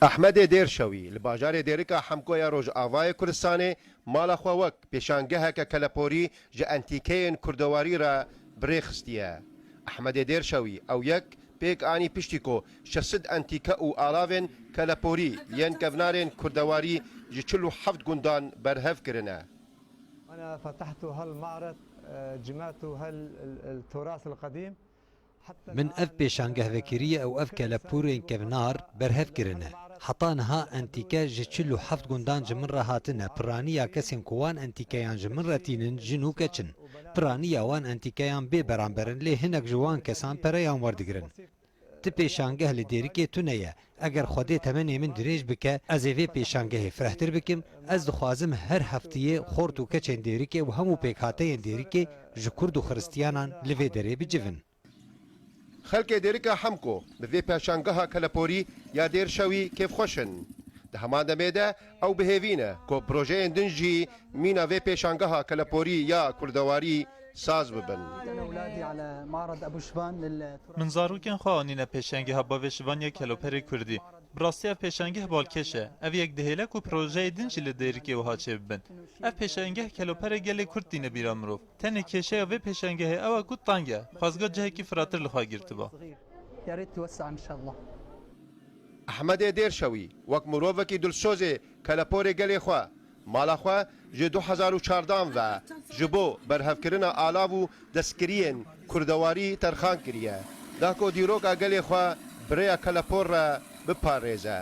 Ehmedê Dêrşewî li bajarê Dêrika Hemko ya Rojavayê Kurdistanê mala xwe wek pêşangeheke keleporî ji entîkeyên kurdewarî re bi rê xistiye. Ehmedê Dêrşewî ew yek pêk anî piştî ku şeş sed entîke û alavên keleporî yên kevnarên kurdewarî ji çil û heft gundan berhev kirine. Min ev pêşangeh vekiriye û ev kelepûrên kevnar berhev kirine. Heta niha entîke ji çil û heft gundan ji min re hatine, piraniya kesên ku wan entîkeyan ji min re tînin jin û keç in. Piraniya wan entîkeyan bê beramber in lê hinek ji wan kesan pereyan werdigirin. Ti pêşangeh li Dêrikê tune ye, Eger Xwedê temenê min dirêj bike, ez ê vê pêşangehê firehtir bikim, ez dixwazim her hefteyê xort û keçên Dêrikê û hemû pêkhateyên Dêrikê ji Kurd û Xiristiyanan li vê derê bicivin. Xelkê Dêrika Hemko bi vê pêşangeha keleporî ya Dêrşewî kêfxweş in. Di heman demê de Ew bi hêvî ne ku projeyên din jî mîna vê pêşangeha keleporî ya kurdewarî saz bibin. Min zarokên xwe anîne pêşengeha bavê şivan ya keloperê kurdî. Bi rastî ev pêşangeh balkêş e. Ev yek dihêle ku projeyê din jî li Dêrikê wiha çêbibin. Ev pêşengeh keloperê gelê kurd tîne bîra mirov. Tenê kêşeya vê pêşengehê ew e ku teng e, xwezga cihekî firatir li xwe girtiba. Ehmedê Dêrşewî wek mirovekî dilsozê keleporê gelê xwe, mala xwe ji du hezar û çardan ve ji bo berhevkirina alav û destkiriyên kurdewarî terxan kiriye, da ku dîroka gelê xwe bi rêya kelepor re biparêze.